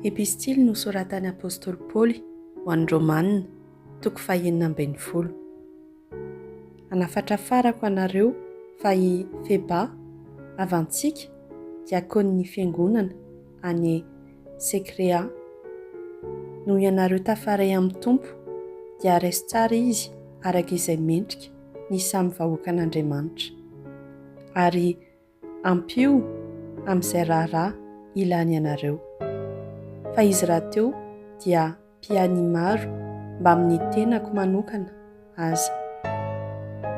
Epistily nosoratan'ny apostoly Paoly ho an'ny Romanina, toko fahenina ambin'ny folo. Anafatrafarako anareo fa i Feba, havantsika, diakonin'ny fiangonana any Senkrea. Noho ianareo tafaray amin'ny Tompo, dia raiso tsara izy araka izay mendrika ny samy vahoakan'Andriamanitra. Ary Ampio amin'izay raharaha ilany ianareo. Fa izy rahateo dia mpianimaro mbamin'ny tenako manokana aza.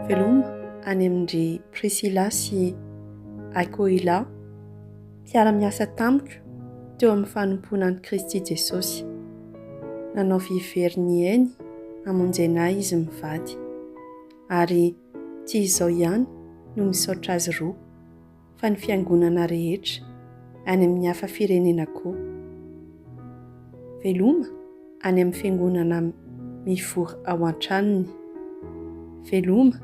Veloma any amin-dry Prisila sy Akoila, mpiara-miasa tamiko teo amin'ny fanompoana an'i Kristy Jesosy. Nanao vy very nihaino hamonjena ahy izy mivady. Ary tsy izao ihany no misaotra azy roa, fa ny fiangonana rehetra, any amin'ny hafa firenena koa. Veloma any amin'ny fiangonana mivory ao an-tranony. Veloma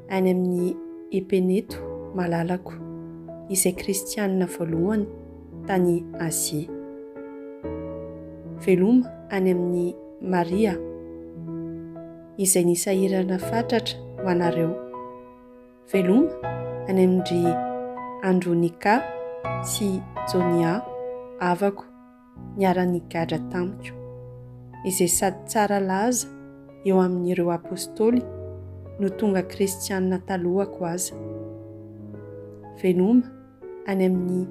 any amin'ny Epeneto malalako, izay kristianina voalohany tany Azia. Veloma any amin'i Maria. izay nisahirana fatratra ho anareo. Veloma any amin-dry Andronika sy Jonia havako niara-nigadra tamiko, izay sady tsara laza eo amin'ireo Apôstôly no tonga Kristianina talohako aza. Veloma any amin'i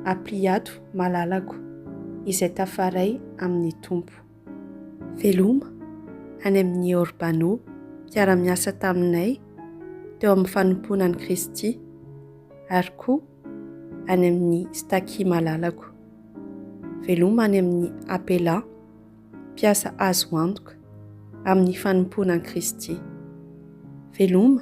Ampliato malalako izay tafaray amin'ny Tompo. Veloma, any amin'i Orbano, mpiara-miasa taminay teo amin'ny fanompoana an'i Kristy, ary koa any amin'i Staky malalako. Veloma any amin'i Apela, mpiasa azo antoka amin'ny fanompoana an'i Kristy. Veloma,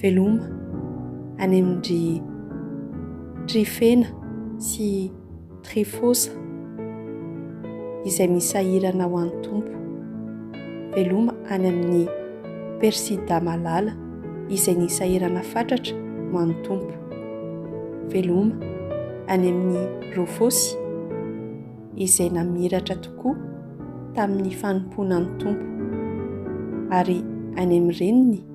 Veloma any amin-dry Trifena sy Trifosa izay misahirana ho an'ny Tompo. Veloma any amin'i Persida malala izay nisahirana fatratra ho an'ny Tompo. Veloma any amin'i Rofosy izay namiratra tokoa tamin'ny fanompoana ny Tompo, ary any amin'ny reniny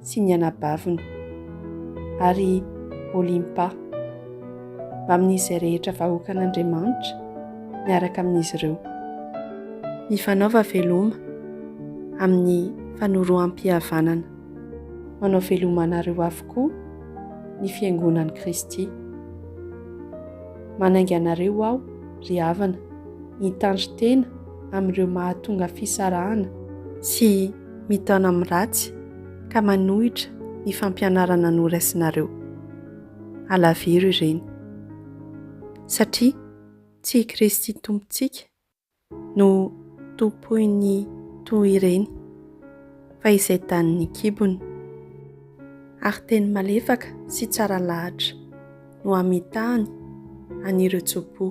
sy ny anabaviny, ary Olimpa, mbamin'izay rehetra vahoakan'Andriamanitra miaraka amin'izy ireo. Mifanaova veloma amin'ny fanoroham-pihavanana. Manao veloma anareo avokoa ny Fiangonan'i Kristy. Manainga anareo aho, ry havana, hitandrin-tena amin'ireo mahatonga fisarahana sy. mitaona amin'ny ratsy ka manohitra ny fampianarana noraisinareo. Alaviro ireny. Satria tsy i Kristy Tompontsika no tompoin'ny toa ireny fa izay danin'ny kibony. Ary teny malefaka sy tsara lahatra no hamitahany an'ireo tso-po.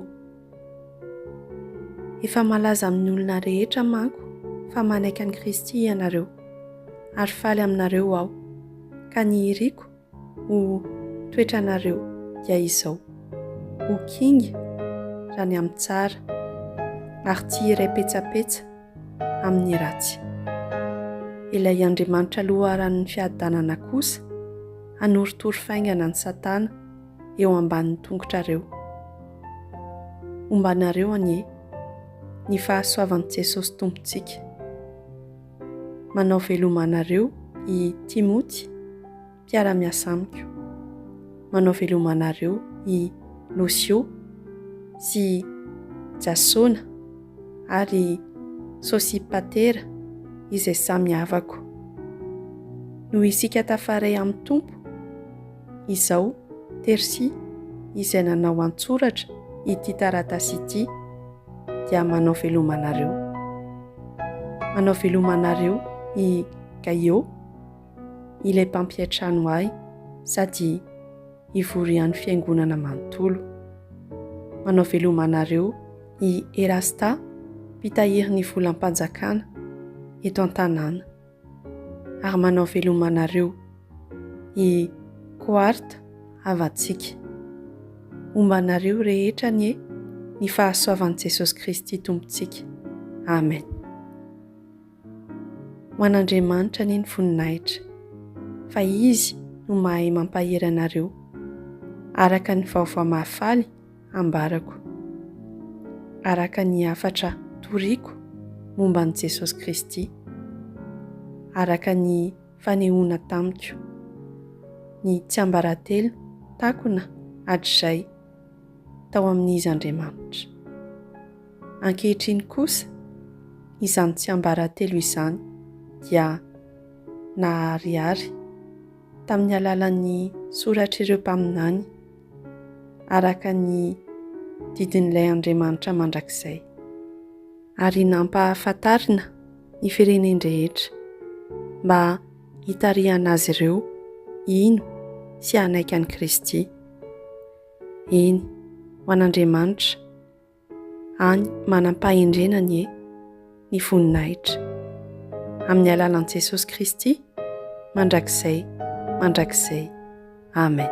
Efa malaza amin'ny olona rehetra manko fa manaiky an'i Kristy ianareo, ary faly aminareo aho, ka ny iriko ho toetranareo dia izao, ho kinga raha ny amin'ny tsara, ary tsy hiray petsapetsa amin'ny ratsy. Ilay Andriamanitra loharanon'ny fiadanana kosa hanorotoro faingana an'i Satana, eo ambanin'ny tongotrareo. Hombanareo anie ny fahasoavan'i Jesosy Tompontsika. Manao veloma anareo i Timoty, mpiara-miasa amiko. Manao veloma anareo i Losio sy Jasona ary Sosipatera izay samy havako. Noho isika tafaray amin'ny Tompo, izao, Tersy, izay nanao an-tsoratra ity taratasy ity, dia manao veloma anareo. Manao veloma anareo i Gaio, ilay mpampiantrano ahy, sady ivorian'ny fiangonana manontolo. Manao veloma anareo i Erasta, mpitahiry ny volam-panjakana eto an-tanàna. ary manao veloma anareo i Quart havantsika. Homba anareo rehetra anie ny fahasoavan'i Jesosy Kristy Tompontsika. Amen. Ho an'Andriamanitra anie ny voninahitra fa Izy no mahay mampahery anareo araka ny vaovao mahafaly ambarako araka ny hafatra toriko momba an'i Jesosy Kristy, araka ny fanehoana tamiko ny tsiambaratelo takona hatrizay tao amin'Izy Andriamanitra. Ankehitriny kosa, izany tsiambaratelo izany dia naharihary tamin'ny alalan'ny soratr'ireo mpaminany, araka ny didin'ilay Andriamanitra mandrakizay, ary nampahafantarina ny firenen-drehetra mba hitarihana azy ireo hino sy hanaiky an'i Kristy. Eny, ho an'Andriamanitra, Any manam-pahendrena anie ny voninahitra. Amin'ny alalan'i Jesosy Kristy, mandrakizay, mandrakizay. Amen.